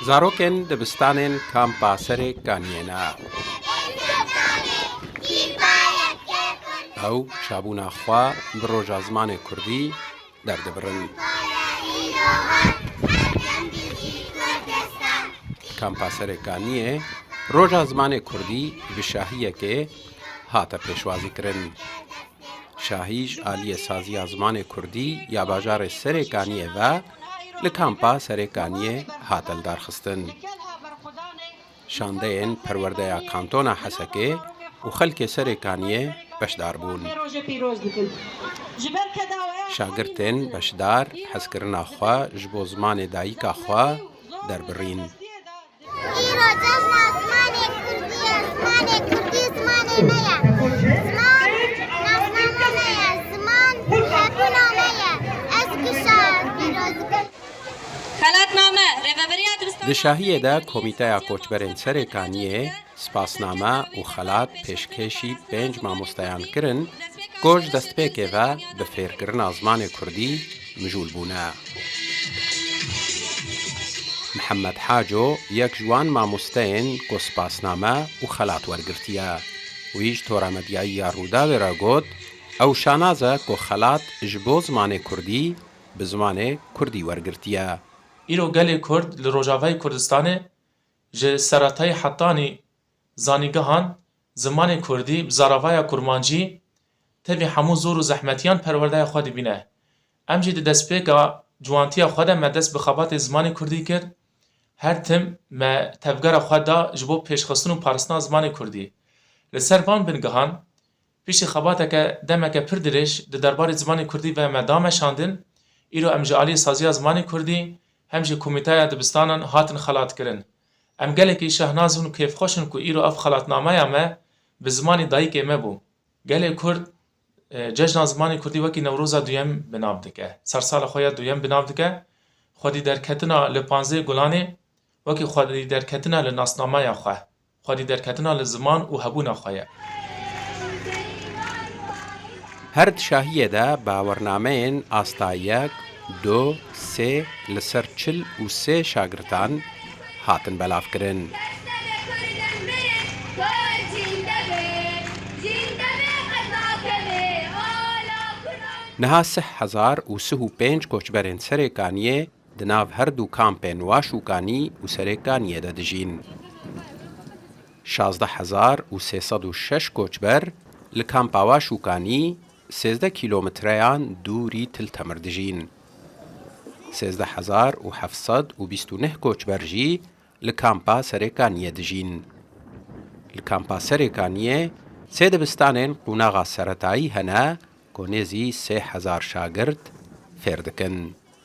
Zarokên dibistanên Kampa Serê Kaniyê ne. Ew çabûna xwe bi roja zimanê kurdî derdibirin. Kampa Serê Kaniyê roja zimanê kurdî bi şahiyekê hate pêşwazîkirin. Şahî ji aliyê saziya zimanê kurdî ya bajarê Serê Kaniyê ve li kampa Serêkaniyê hate lidarxistin. Şandeyên Perwerdeya Kantona Hesekê û xelkê Serêkaniyê beşdar bûn. Şagirtên beşdar hezkirina xwe ji bo zimanê dayika xwe derbirîn. Di şahiyê de Komîteya Koçberên Serêkaniyê Spasname û xelat pêşkêşî pênc mamostayan kirin ku ji destpêkê ve bi fêrkirina zimanê kurdî mijûl bûne. Mihemed Haco yek ji wan mamosteyên ku spasname û xelat wergirtiye. Wî ji tora medyayî ya Rûdawê re got, Ew şanaz e ku xelat ji bo zimanê kurdî bi zimanê kurdî wergirtiye. Îro gelê kurd li Rojavayê Kurdistanê Ji seretayê hetanî zanîngehan zimanê kurdî bi zaravaya kurmancî tevî hemû zor û zehmetiyan perwerdeya xwe dibîne. Em jî di destpêka ciwantiya xwe de me dest bi xebatê zimanê kurdî kir. Her tim me tevgera xwe da ji bo pêşxistin û paristina zimanê kurdî. Li ser van bingehan Piştî xebateke demeke pir dirêj di derbarê zimanê kurdî ve me da meşandin, îro em ji aliyê saziya zimanê kurdî hem jî komîteya dibistanan hatin xelatkirin. Em gelekî şehnaz in û kêfxweş in ku îro ev xelatnameya me bi zimanê dayikê me bû. Gelê Kurd cejna zimanê kurdî wekî Newroza duyem bi nav dike, sersala xwe ya duyem bi nav dike, xwedîderketina li Panzdeh Gulanê wekî xwedîderketina li nasnameya xwe Xwedî derketina li ziman û hebûna xwe ye. Her di şahiyê de bawernameyên asta yek, du, sê li ser çil û sê şagirtan hatin belavkirin. Niha sih hezar û sih û pênc koçberên Serêkaniyê Di nav her du kampên Waş û Kanî û Serê Kaniyê de dijîn. Şazdeh hezar û sê sed û şeş koçber li kampa Waş û Kanî sêzdeh kîlometreyan dûrî Til Temir dijîn. Sêzdeh hezar û heft sed û bîst û neh koçber jî li kampa Serê Kaniyê dijîn. Li kampa Serê Kaniyê sê dibistanên qûnaxa seretayî hene ku nêzî sê hezar şagirt fêr dikin.